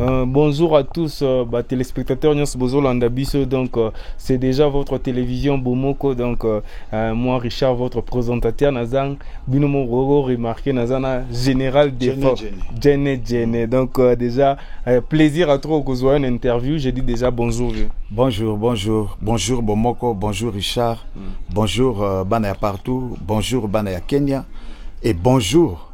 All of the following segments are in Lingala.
Euh, bonjour à tous euh, bah, téléspectateurs nyonso bozolanda biso donc euh, c'est déjà votre télévision bomoko donc euh, euh, moi richard votre présentateur nazang bino moko remarqué naza na général défense jene jene donc euh, déjà euh, plaisir à trop kozwa une interview je dis déjà bonjour vieux. bonjour bonjour bonjour bomoko bonjour richard mm. bonjour euh, bana ya partout bonjour bana ya kenya et bonjour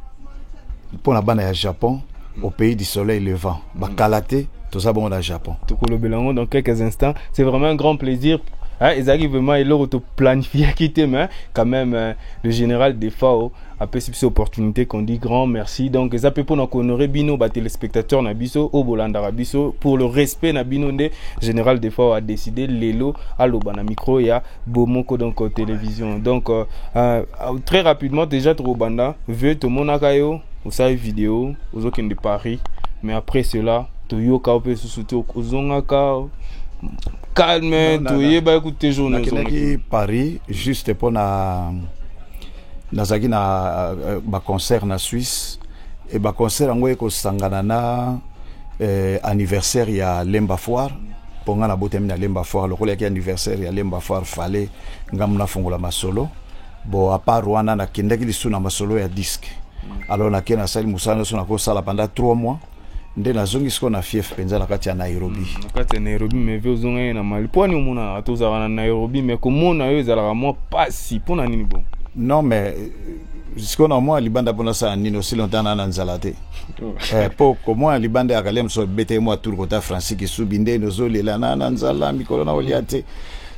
mpo na bana ya japon au pays du soleil levant bakala te toza bongo na japon tokolobela yango dans quelques instants c'est vraiment un grand plaisir Hein, ezalaki vraiment eloko toplanifiyaki te mais quand même euh, le général defao apesi biso opportunité qu'on dit grand merci donc eza mpe mpona kohonore bino batelespectateur na biso oyo bolandaka biso pour le respect na bino nde général defao adécide lelo aloba na micro ya bomoko donc euh, télévision donc euh, euh, très rapidement déjà tokobanda vieux tomonaka yo osali video ozokende paris mais après cela toyoka yo mpe lisusu te ozongaka calme toyebaki kutu te jour nakendaki paris juste mpo na nazalaki na euh, baconcert na suisse e baconcert yango ekosangana na eh, anniversaire ya lemba foire po nga nabotami na lemba foire lokola yaki anniversaire ya lemba foire fale nga muna fongola masolo bo apart wana nakendaki lisusu na masolo ya disque alors nake nasali mosala nyonso nakosala pendant 3 mois nde nazongi sikoyo na fief mpenza na kati ya nairobi hmm, na kati ya nairobi me ve ozongaki na mali mpo ani omonaka tozalaka na nairobi me komona yo ezalaka mwa mpasi mpo na nini bongo non mais sikoyo na omona libanda mpo nasala nini osi lontan na na nzala te mpo oh. eh, komona libanda ya kalia mosusu abetaki mwa tour kota francis kisubi nde nozolela na na nzala mikolo na olia te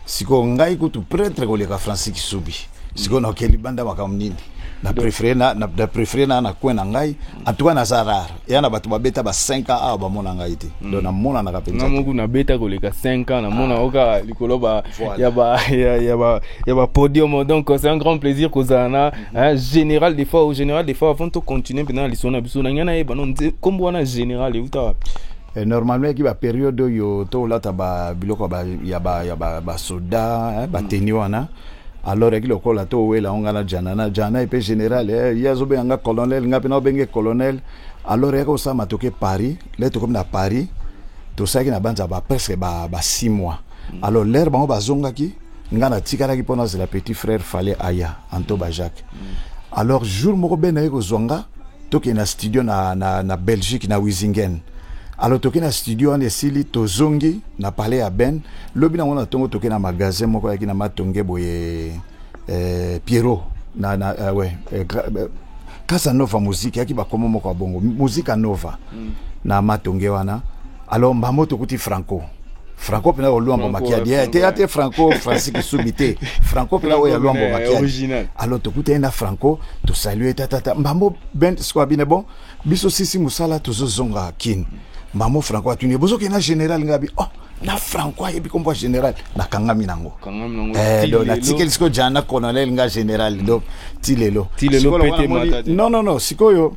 sikoyo ngai kutu pretre koleka francis kisubi sikoyo naoke libanda makambo nini na prefere na, na, na, prefere na, na coin na ngai en tout cas naza rare eya na bato babeta ba 5 ans awa bamona ngai te mm. donc namonanaka mpenza nga moku nabeta koleka 5 ans namona ah. oka likolo ba, voilà. ya, ba, ya, ya, ba, ya ba podium donc c'est un grand plaisir kozala na mm -hmm. hein, général des fois au général des fois avant tocontinue mpenza na lisolo na biso na ngai nayeba no nkombo wana général euta wapi Eh, normalement yaki baperiode oyo tolata biloko ya basoda eh, bateni mm. wana mm. alors eki lokola to owela yango ngai na jana na jana epe général eh, ye azobenga nga colonel ngai mpe naobenge colonel alors eyaka kosala matoke paris le tokomi na paris tosalaki na banza ba presque ba, ba six mois mm. alors lere bango bazongaki ngai natikalaki mpo nazela petit frère fale aya anto bajacques mm. alors jour moko bena ye kozwa nga tokende na studio na, na, na belgique na wisingen alors toke na studio wana esili tozongi na palais ya ben lobi nango na ntongo toke na magasin moko ayaki na matonge boye eh, pierrot na, na, uh, we, eh, eh, casanova muziki ayaki bakomo moko ya bongo muzika nova mm. na matonge wana alors mbambo tokuti franco franco mpena olwambo makiadi eh, te ya te franco francis kisubi te franco mpena oyo ya lwambo makiadi alors tokutani na franco tosalue tatata mbambo ben sikoyo abine bon biso sisi mosala tozozonga kin mbambo franco atuni bozokende na général ngabi oh na franco ayebi kombo ya général nakangami nango eh, do natikeli sikoyo jana colonel nga général do ti lelo non non non sikoyo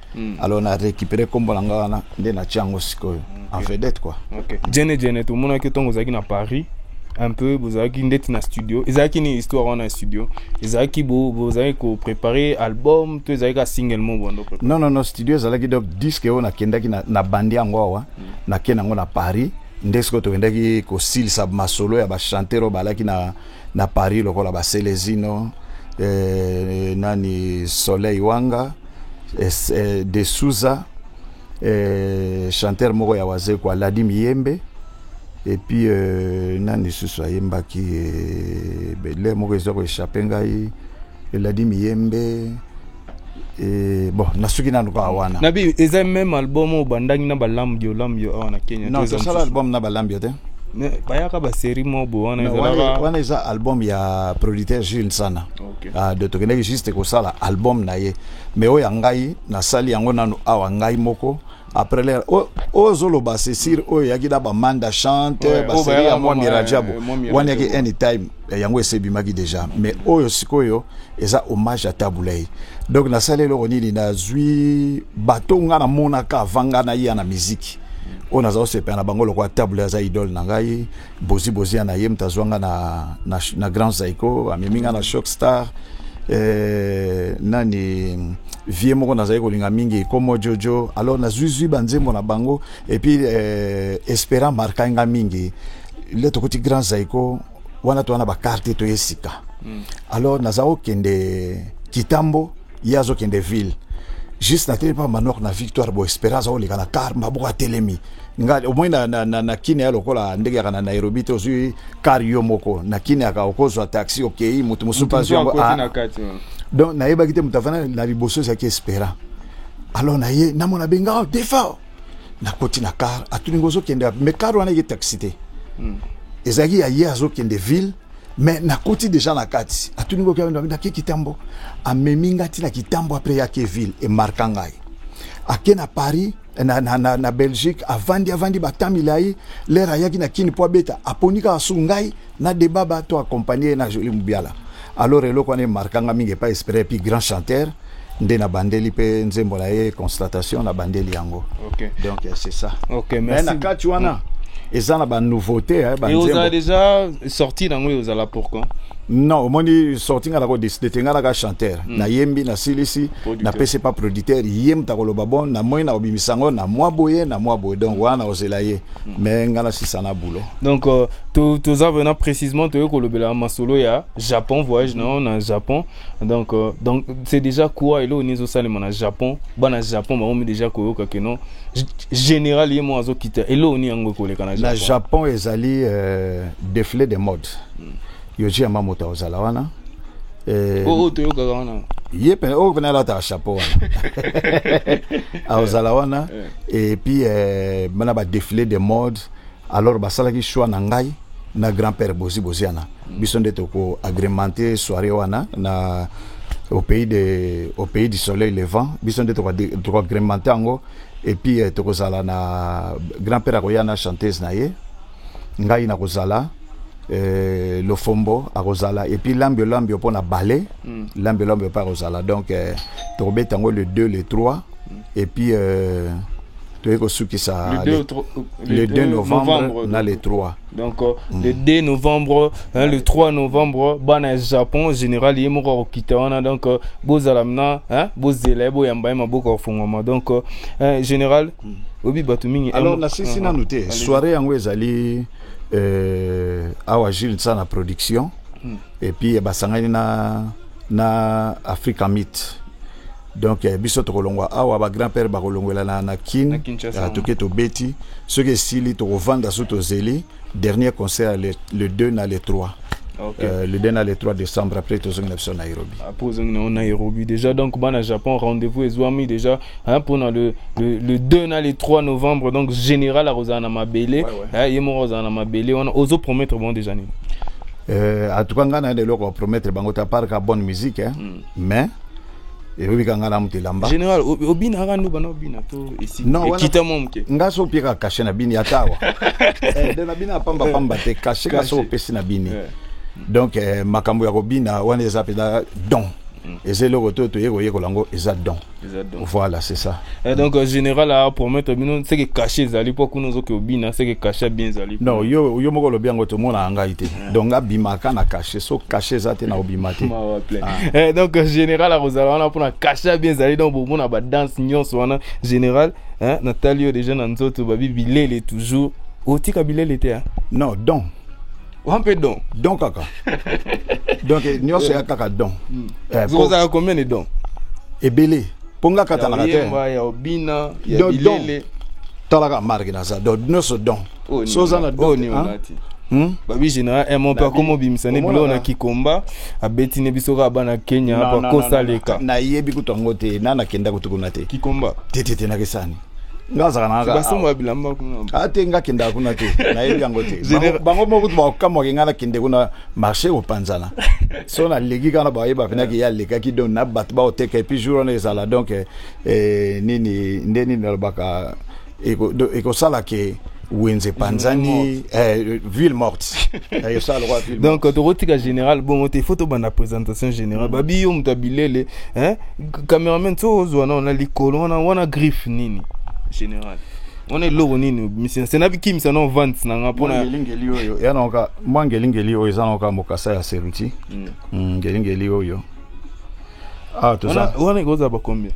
Mm. Alors na récupérer kombo na nga wana nde na tiango sikoyo en vedette quoi. Okay. Jene Jene tout mona que tongo ozaki na Paris un peu bozalaki ndeti na studio ezalaki ni histoire wana ya studio ezalaki bozalaki koprépare album to ezalaki ka single mo bondo non non non studio ezalaki donc disque oyo nakendaki na, na bandi yango awa mm. nakei nango na paris nde sikoyo tokendaki kosilisa masolo ya bachanteur oyo balaki na, na paris lokola baselezino eh, nani soleil wanga eh, de Souza eh, chanteur moko ya wazekwa Ladi Miyembe epuis euh, nani lisusu ayembaki eh, bele moko eza koechappe ngai Ladi Miyembe Et bon nasuki nanu kaka wana nabi eza même album oyo bandaki na balamu yo lamu yo awa na kenya non tosala album na balamu yo te bayaka baserie moko boye wana ezalaka wana eza album ya producteur jules sana okay. Ah, de tokendaki juste kosala album na ye mais oyo ya ngai nasali yango nanu awa ngai moko après l'air oyo ozoloba c'est sûr oyo eyaki na bamanda chante Ouais, oyo baseri bayaka ya mwami mama, rajabu eh, Mwami wana eyaki Rajabu. anytime eh, yango esebimaki déjà mais oyo sikoyo eza hommage ya tabulei donc nasali eloko nini nazwi bato nga namonaka avanga na ya na miziki oyo naza kosepela na bango lokola tabulei aza idole na ngai Bozi Bozi ya na ye moto azwa nga na, na, na Grand Zaiko amemi nga na Shock Star eh, nani vie moko nazali kolinga mingi komo jojo alors nazwizwi banzembo na bango epuis eh, espera marka nga mingi le tokoti Grand Zaiko wana towana bakarte toye sika mm. alors naza kokende kitambo ye azokende ville juste natelemi mpa manok na victoire bo espérance akoleka na car maboko atelemi nga omoi na, na, na, na kine ya lokola ndenge yaka na nairobi te ozwi car yo moko na kine yaka okozwa taxi okei moto mosusu mpe azwi yango ah. donc nayebaki te moto avanda na liboso ezalaki espérant alors naye namona benga oh, defa nakoti na car atuninga ozokende me car wana eke taxi te hmm. ezalaki ya ye azokende ville mais nakoti deja na kati atuni ngoki abenda ake kitambo amemi ngai ntina kitambo apres yake ville emarka ngai ake na paris na, na, na, na belgique avandi avandi bata milai lere ayaki na kini mpo abeta aponi kaka su ngai na debaba to akompagne ye na joli mobiala alors eloko wana emarka ngai mingi epai espere epi grand chanteur nde na bandeli pe nzembo na ye constatation na bandeli yango okay. donc c'est ça okay, merci. na kati wana mm. eza na banouveauté eh, banzembo déjà sorti nango eozala pour quand non omoni sorti nga nako décide te nga naka chanteur mm. nayembi nasilisi napesi pa producteur ye moto akoloba bon namoni nakobimisa yango na mwa boye na mwa boye donc wana nakozela ye mm. mais nga nasisa na boulot donc euh, toza vraimen précisement toyei kolobela masolo ya japon voyage na yo na japon donc euh, donc c'est déjà quoi eloko nini ezosalema na japon bana japon bakomi déjà koyoka ke non G- général ye moko azokita eloko nini yango ekoleka na na japon japon ezali euh, défilé de mode yoji yamba moto akozala wana Eh, oyo oyo toyokaka wana ye pene oyo pene alataka chapeau wana akozala wana et puis euh, bana badéfilé de mode alors basalaki choix na ngai na grand père bozi boziana biso nde toko agremente soirée wana na au pays de au pays du soleil levant biso nde toko agremente yango et puis eh, tokozala na grand père akoya na chanteuse na ye ngai nakozala eh, lofombo akozala epuis lambio lambio mpo na bale mm. lambio lambio mpe akozala donc eh, tokobeta yango le 2 le 3 mm. epuis eh, toyei kosukisa le 2 novembre na le 3 donc euh, mm. le 2 novembre hein, le 3 novembre bana ya japon général ye moko akokita wana donc euh, bozala mna hein, bozela ye boyamba ye maboko afungwama donc euh, hein, général mm. obi bato mingi alors nasisi nanu te soirée yango ezali euh, awa jules nsa na production mm. et puis basangani na na africa mit donc eh, biso tokolongwa awa ba grand père bakolongwela na, na kin na ah, toke tobeti soki esili tokovanda so tozeli dernier concert le, le 2 na le 3 Okay. Euh, le 2 na le 3 décembre après tozongi na biso nairobi après ozongi nango nairobi déjà donc bana japon rendez-vous ezwami déjà hein, mpona le, le, le 2 na le 3 novembre donc général akozala na mabele ouais, ouais. hein, ye moko akozala na mabele wana ozopromettre bango déjà nini euh, en tout cas ngai naye na eloko apromettre bango ta parka bonne musique hein, mm. mais elobi kanga na moto elamba général obinaka ndoba na obina to ekita mwa moke nga so opiekaka kashe na bini ata awa eh, de na bini apamba pamba te kashe nga so opesi na bini eh. donc eh, makambo ya kobina wana eza mpenza don mm. eza eloko to toye koyekola yango eza don voilà c'est ça Et donc euh, général a promettre bino seke kashe ezali mpo kuna ozoki obina seke kashe bien ezali non yo, yo moko olobi yango tomonaka ngai te donc abimaka na cache so cache eza te na obima te ah. eh, donc euh, général akozala wana mpona cache ya bien ezali donc bomona badanse nyonso wana général hein, natali yo déjà na nzoto babi bilele toujours otika bilele te hein? non donc wa mpe don don kaka donc eh, nyonso ya kaka don hmm. eh, kozala combien de don ebele mpo nga katanaka te don talaka marke naza don nyonso don Oyo nini So oza na olati? Oyo doute, nini hein? olati? Hmm? babi général eh, mon père Nabi- komo obimisa ne Omona biloko na na- kikomba abeti ne biso kaka bana kenya Non, non, apa non, kosa non, leka non. nayebi kutu yango te na nakenda kutu kuna te kikomba te te te nakesani nga azalaka na basomba ya bilamba kuna a te nga kendaka kuna te nayebi yango te Général- Bango- bango moko kutu bakokamwake nga nakende kuna marché kopanzana so naleki kana bayeba penaki ye alekaki donc na bato baoteka epuis jour wana ezala donc eh, eh, nini nde nini nalobaka ekosala ke wenze epanzani eh, ville morte eh, donc tokotika général bongo te faut tobanda présentation générale mm. babi yo moto ya bilele eh, cameraman so ozwa na wana likolo wana wana griffe nini général wana eloko nini misense na bikimisa na vente na nga mpona ngelingeli oyo ya naoka mwa ngelingeli oyo eza naoka mokasa ya seruti mm. mm, ngelingeli oyo ah toza Wana- wana ekozala ba combien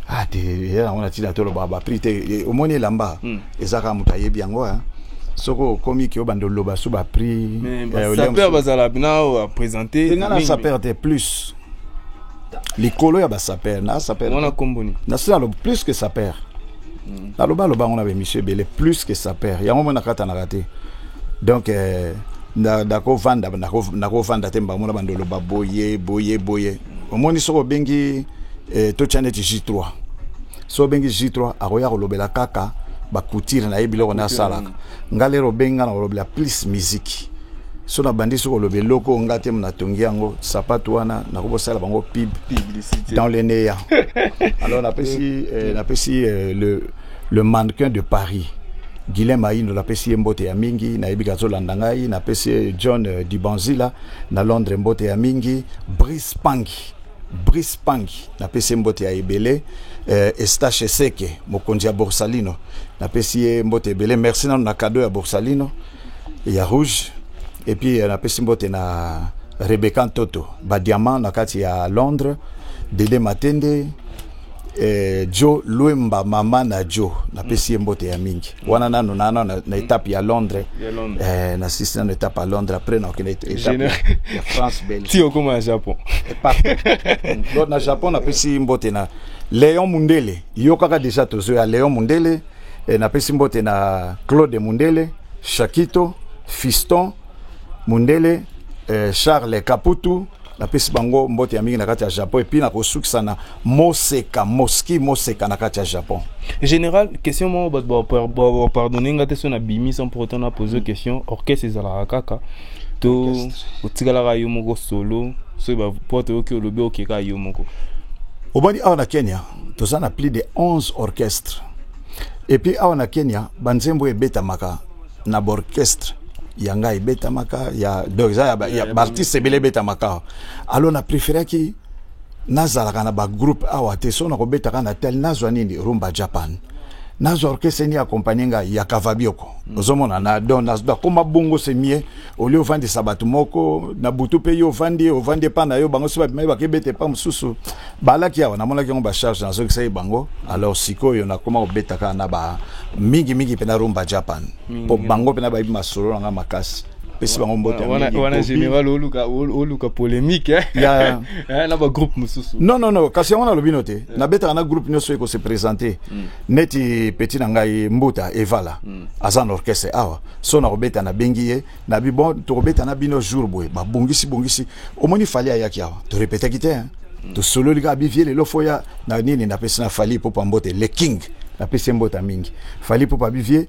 ah te ya yango na tina toloba ba prix te E, omoni elamba Mm. eza kaka moto ayebi yango hein. soki okomi ki obanda oloba su ba prix mais eh, ba olia sapeur mosusu. bazala bina oyo a présenter Te nga na mingi. sapeur te plus likolo ya ba sapeur na sapeur wana kombo nini nasi naloba plus que sapeur naloba aloba yango na baémission ebele plus que sapeur yango mona katanaka te donc euh, nakovanda nakovanda te mbango na bandolo baboye boye boye omoni soki obengi eh, totya neti j3 soki obengi j3 akoya kolobela kaka bakutire na ye biloko na asalaka nga lero obengi nga na kolobela plus miziki so nabandi soki oloba eloko nga te natongi yango sapatu wana nakobosala bango pib dans le neya alors napesi eh, napesi eh, le Le mannequin de Paris Guilain Mayindo napesi ye mbote ya mingi nayebi ke azolanda ngai napesi ye John euh, Dibanzila na Londres mbote ya mingi Brice Pangi Brice Pangi napesi ye mbote ya ebele euh, Estache Seke mokonzi ya Borsalino napesi ye mbote ebele merci nano na cadeau ya Borsalino ya rouge et puis euh, napesi mbote na Rebecca Ntoto ba diamant na kati ya Londres Dede Matende eh, Joe Luemba mama na Joe napesi ye mbote ya mingi wana nano na, na, na etape ya Londres Ya Londres. eh, na sisi nano etape ya Londres après na okende etape Général- ya France Belgique ti okoma na japon donc na japon napesi mbote na leon mundele yokaka deja tozo ya leon mundele E, napesi mbote na Claude Mundele, Shakito, Fiston Mundele, e, Charles Kaputu, napesi bango mbote ya mingi na kati ya japon epuis nakosukisa na moseka moski moseka na kati ya japon général question moko bato bapardonne nga te so nabimi sans pour autant napose question orchestre ezalaka kaka to otikalaka yo moko solo soki bapote oyoki olobi okeka yo moko obandi awa na kenya toza na plus de 11 orchestre epuis awa na kenya banzembo ebetamaka na baorchestre ya ngai ebetamaka ya donc eza ya, ba, ya, ya baartiste ebele ebetamaka awa alo na preferaki nazalaka na bagroupe awa te so nakobetaka na tel nazwa nini rumba japan nazwa orchestre ni accompagne ngai ya kavabioko mm. ozomona na don nakoma bongo se mie olie ovandisa bato moko na butu mpe yo ovandi ovandi epa na yo bango so babimai bakebeta epa mosusu balaki awa namonaki yango bacharge nazokisaki bango alors sikoyo nakoma kobeta kaka na ba mingi mingi mpena rumba japan mpo bango mpena bayebi masolo na ngai makasi pesi bango mbote wana général oluka oluka polémique eh? ya eh, na ba groupe mosusu non non non kasi yango nalobi no te eh. nabetaka na groupe nyonso ekose présente hmm. neti petit na ngai mbuta evala hmm. aza na orchestre awa so nakobeta nabengi ye na bi bon tokobeta na bino jour boye babongisi bongisi omoni fali ayaki awa torepetaki te hein. mm. tosololi kaka bivie lelo fo ya na nini napesi na fali popa mbote le king napesi ye mbota mingi fali popa bivie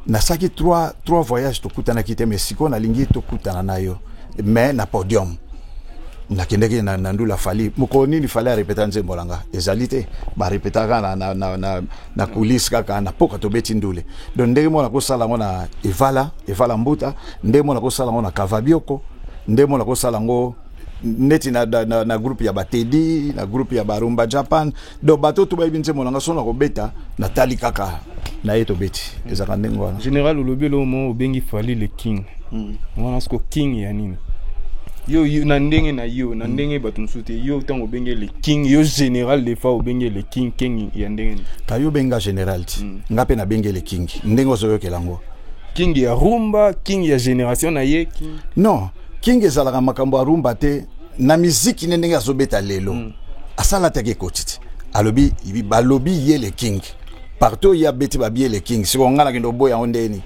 nasalaki trois, trois voyage tokutanaki te mais sikoyo nalingi tokutana na yo mais na podium nakendaki na, na ndula fali mokolo nini fali arepeta nzembo na nga ezali te barepetaka na, na, na, na na coulisse kaka na poka tobeti ndule donc ndenge mona kosala yango na evala evala mbuta ndenge mona kosala yango na kavabioko ndenge mona kosala yango neti na, na, na, na groupe ya batedi na groupe ya barumba japan donc bato to bayebi nzembo na nga sona kobeta natali kaka na ye tobeti ezalaka ndenge wana général olobi eloo mo obengi fali le king hmm. wana siko king ya nini yo, yo na ndenge na yo na mm. ndenge bato mosusu te yo ntango obenge le king yo général des fois obenge le king king ya ndenge nini ka yo benga général ti mm. nga mpe nabenge le king ndenge ozoyokela yango king ya rumba king ya génération na ye king. non king ezalaka makambo ya rumba te na miziki ne ndenge azobeta lelo mm. asalataki ekoti te alobi balobi ye le king partout ye abeti babie le king sikoyo ngai nakende oboya yango ndeni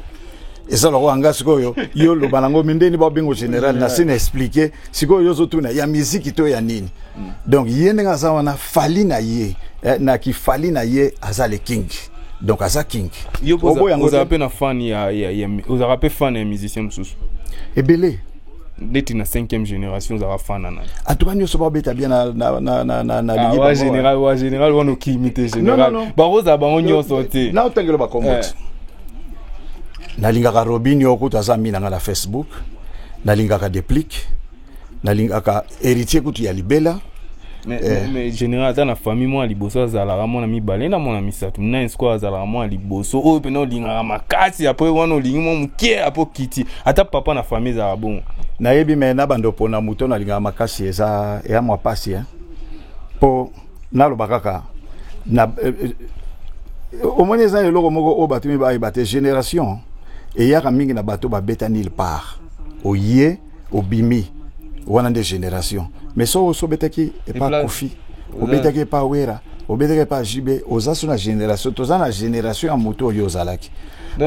eza lokola nga sikoyo yo loba nango mindeni babengo général na se na explike sikoyo yo ozotuna ya miziki to ya nini mm. donc ye ndenge aza wana fali na ye eh, na kifali na ye aza le king donc aza king oboyangoozala mpe na fan ya, ya, ya, ozalaka mpe fan ya musicien mosusu ebele neti na cinquième génération ozala fana na atuka nyonso babeta bien na, na, na, na, na, na ah, wa général wa général wana okimi te général bakozala bango nyonso te na otangelo bakomboti eh. nalingaka robinio okuta aza mi na ngai na facebook nalingaka deplique nalingaka Héritier kutu ya libela. Mais, eh. mais général ata na famille mwana liboso azalaka mwana mibale na mwana misato nani sikoyo azalaka mwana liboso oyo mpena olingaka makasi apres wana olingi mwa moke apo kiti ata papa na famille ezalaka bongo nayebi me na bando mpona moto nalingaka makasi eza eya mwa mpasi eh. mpo naloba kaka na eh, eh, omoni eza eloko moko oyo bato mibale bate génération eyaka mingi na bato babeta nil part oye obimi wana nde generation mais so oso obetaki epa kofi obetaki epa wera obetaki epa jb oza so na generation toza na generation ya moto oyo ozalaki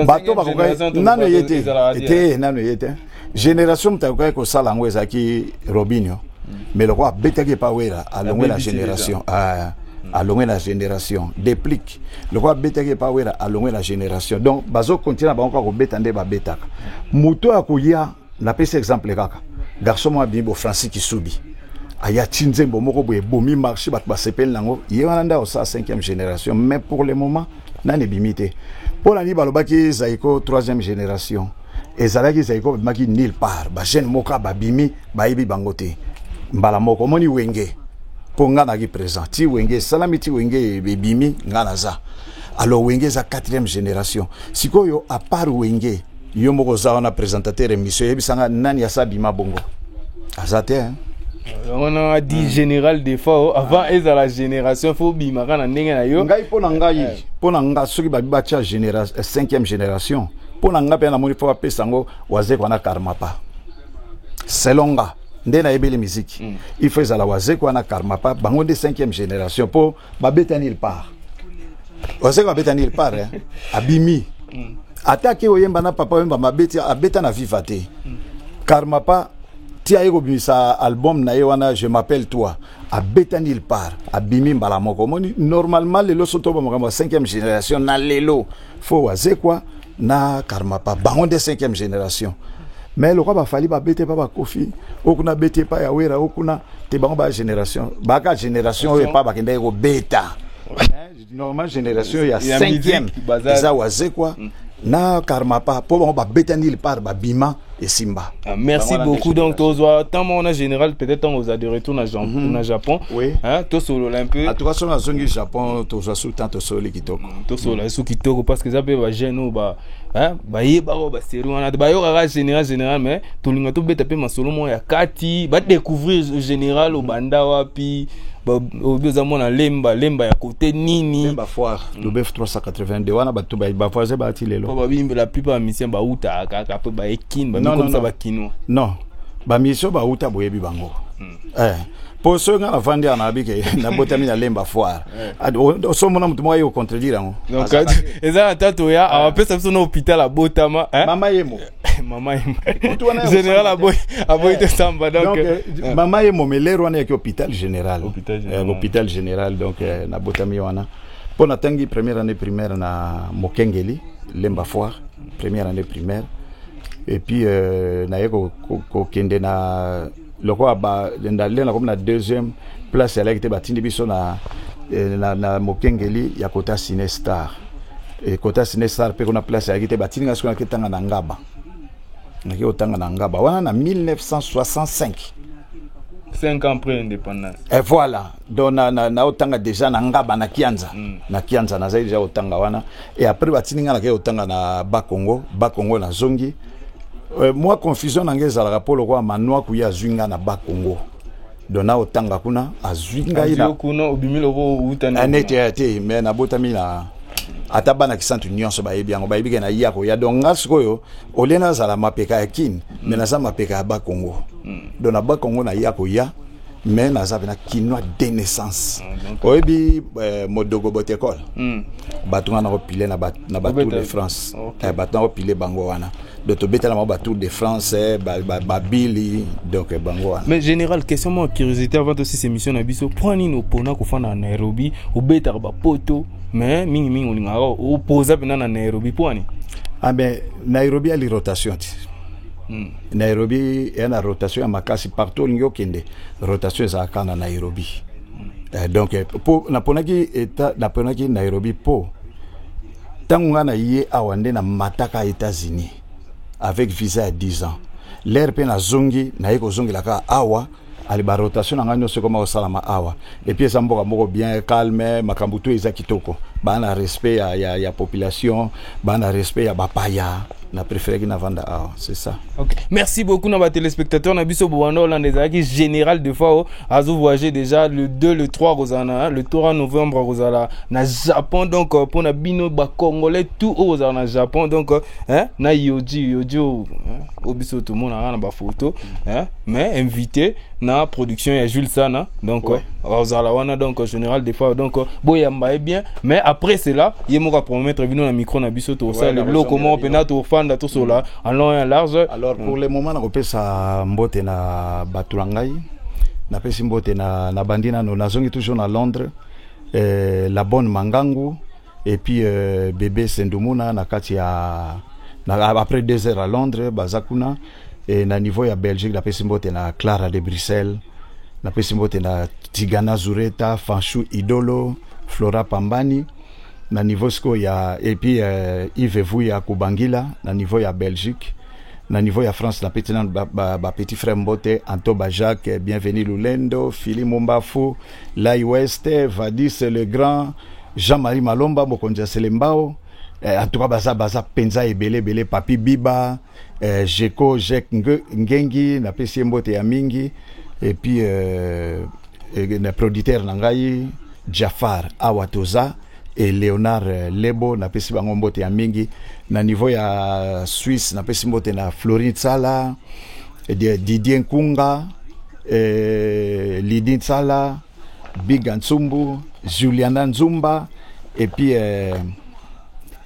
bato bakokaki nano eye te te nano eye te génération moto akokaki kosala yango ezalaki robinio mm. mais lokola abetaki epa wera alongwe na génération ah. alongwe na génération déplique lokola abetaki epa wera alongwe na génération donc bazokontina bango kaka kobeta nde babetaka moto ya koya napesi exemple kaka garçon moko abimi bo francis kisubi aya ti nzembo moko boye ebomi marché bato basepeli nango ye wana nde akosala 5e génération mais pour le moment nani ebimi te mpo na nini balobaki zaiko 3e génération ezalaki zaiko babimaki nil part bajeune moko babimi bayebi bango te mbala moko omoni wenge mpo ngai naki présent ti wenge esalami ti wenge ebimi ngai naza alors wenge eza 4e génération sikoyo apart wenge Yo moko oza wana presentateur emission yebisa nga nani asa bima bongo. Aza te hein. On a dit général de fort avant ah. ezala génération faut bima kana ndenge na yo. Ngai pona ngai eh. pona nga soki ba ba tia génération 5e eh, génération pona nga pe na moni faut apesa ngo waze kwana karma pa. Selon nga nde nayebeli miziki mm. il faut ezala wazekwa na karmapa bango nde 5e génération mpo babeta nil part oseka babeta nil part eh? abimi mm. ata ke oyemba na papa oyemba mabeti abeta na viva te mm. karma pa ti aye kobimisa album na ye wana je m'appelle toi abeta nil part abimi mbala moko omoni normalement lelo sotoba makambo ya 5e génération na lelo fo wazekwa na karmapa bango nde cinquième génération mais lokola bafali babete epa bakofi oyo kuna abeti epa ya wera oyo kuna te bango ba génération baka génération oyo epa bakendaki kobeta normal génération ya cinquième eza wazekwa mm. na karmapa mpo bango babetani lipar babima esimba ah, merci beaucoup donc tozwa ntango moko na général peut-être ntango oza de retour na, Jean, mm -hmm. na japon oui. hein, tosolola un peu atuka soki nazongi japon tozwa su temps tosololi kitoko mm, tosolola su kitoko parce que eza mpe bajeune oyo ba bayebaka oyo baserie wana te bayokaka général général mais tolinga tobeta mpe masolo moko ya kati badécouvrir général obanda wapi obi oza mwana lemba lemba ya kote nini lemba foire lobef 382 wana bato ba- bavoisin baati lelo po babimbi la plupart ya musicien bautaka kaka pe baye kin Non, non, bamikomisa non. bakinois non bamisio bauta boyebi bango Eh, po soki ngai navandi awa nayebi ke nabotami na lemba foire Ad- o- o- so omona moto moko aye kocontredire yango donc eza na tata oya awapesa biso na hôpital abotama hein? mama ye mo mama ye Kutu wana ya général kosamba aboyi aboyi te samba donc donc eh, eh, mama ye mo melere wana yaki hôpital général Hôpital général. Eh, hôpital général donc eh, nabotami wana mpo natangi première année primaire na mokengeli lemba foire première année primaire et puis euh, naye kokende na lokola balendalenda nakomi na deuxième place yalaki te batindi biso na, eh, na, na mokengeli ya kota cine star e, kota cine star mpe kuna place yalaki te batindi nga soki naki tanga na ngaba naki kotanga na ngaba wana na 1965 5 ans après l'indépendance et voilà donc na, na, na otanga deja na ngaba na kianza mm. na kianza nazali deja otanga wana et après batindi ngai nakei otanga na bakongo bakongo nazongi euh, mwa confusion na ngai ezalaka mpo lokola manua kuya azwi ngai na bakongo donc na otanga kuna azwi ngai na kuna obimi loko uta na nete ya te mais nabotami na ata bana kisantu nyonso bayebi yango bayebi ke na ya koya donc nga sikoyo olie nazala mapeka ya kin mm. mais naza mapeka ya bakongo mm. donc na bakongo na ya koya mais naza pena kinois de naissance ah, oyebi eh, modogo botekole hmm. bato nga nakopile na batour de france eh, bato nakopile bango wana donc tobetela bango batour de france eh, babili donc bango wana mais général question mwa curiosité avant tosisa émission na biso mpo nini opona kofanda na nairobi obetaka bapoto mais mingimingi olingaka opoza mpena na nairobi mpo wani ah ben nairobi ali rotation ti hmm. Nairobi ya na rotation ya makasi partout olingi okende rotation ezalaka na Nairobi eh, donc eh, po naponaki eta naponaki Nairobi po ntango ngai na ye awa nde na mataka États-Unis avec visa ya 10 ans l'air mpe nazongi naye kozongela kaka awa ale ba rotation na ngai nyonso ekoma kosalama awa epuis eza mboka moko bien calme makambo to eza kitoko baa na respect ya, ya, ya population baa na respect ya bapaya na préféreki na vanda awa c'est ça okay. merci beaucoup na batelespectateur na biso bobanda olanda ezalaki général de fao azo voyage déjà le 2 le 3 kozala na le 3 novembre kozala na japon donc euh, mpona bino bacongolais tout oyo kozala na japon donc euh, hein, na yoji yoji oyo hein? oyo biso tomonaka na bafoto hein, mais invité na production ya jules sana donc Ouais. ozala wana donc général des fois donc boyamba ye bien mais après cela ye moko apromettre bino na micro na biso Ouais, tokosala na eloko kozongela moko bino. mpenza tofanda tosola en long et en large alors pour le moment nakopesa mbote na bato na ngai napesi mbote na nabandi nano nazongi toujours na londres eh, la bonne mangangu et puis euh, bebe sendumuna na kati ya na, après deux heures à londres baza kuna e, na niveau ya belgique napesi mbote na clara de bruxelles napesi mbote na tigana zureta fanchou idolo flora pambani na niveau sikoyo ya et puis euh, ive vuya kubangila na niveau ya belgique na niveau ya france na peti nanu bapetit ba, ba frère mbote antoba jacques bienvenu lulendo fili mombafu Lai West, Vadis le Grand, Jean-Marie Malomba, Mokonzi ya Selembao. Eh, en tout cas, baza, baza, penza, ebele, ebele, Papi Biba, eh, Jeko, Jek Ngengi, na pesi ye mbote ya mingi, et puis, euh, eh, na producteur na ngai, Jafar Awatoza, et Leonard euh, Lebo na pesi bango mbote ya mingi na niveau ya Suisse na pesi mbote na Florin Tsala Didier Nkunga euh, Lydie Tsala Biga Nsumbu Juliana Nzumba et puis euh,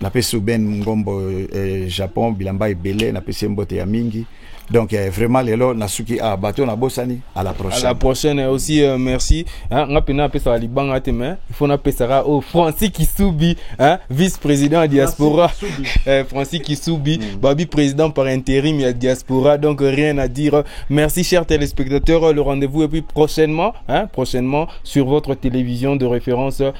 napesi uben ngombo eh, japon bilamba ebele napesi ye mbote ya mingi donc eh, vraiment lelo nasuki ah, bato nabosani à la à prochaine la prochaine eh, aussi euh, merci hein, nga mpenza napesaka libanga te mais il faut napesaka oyo francis kisubi hein, vice président ya diaspora eh, francis kisubi babi président par intérim ya diaspora donc rien à dire merci chers téléspectateurs le rendez-vous et puis prochainement hein, prochainement sur votre télévision de référence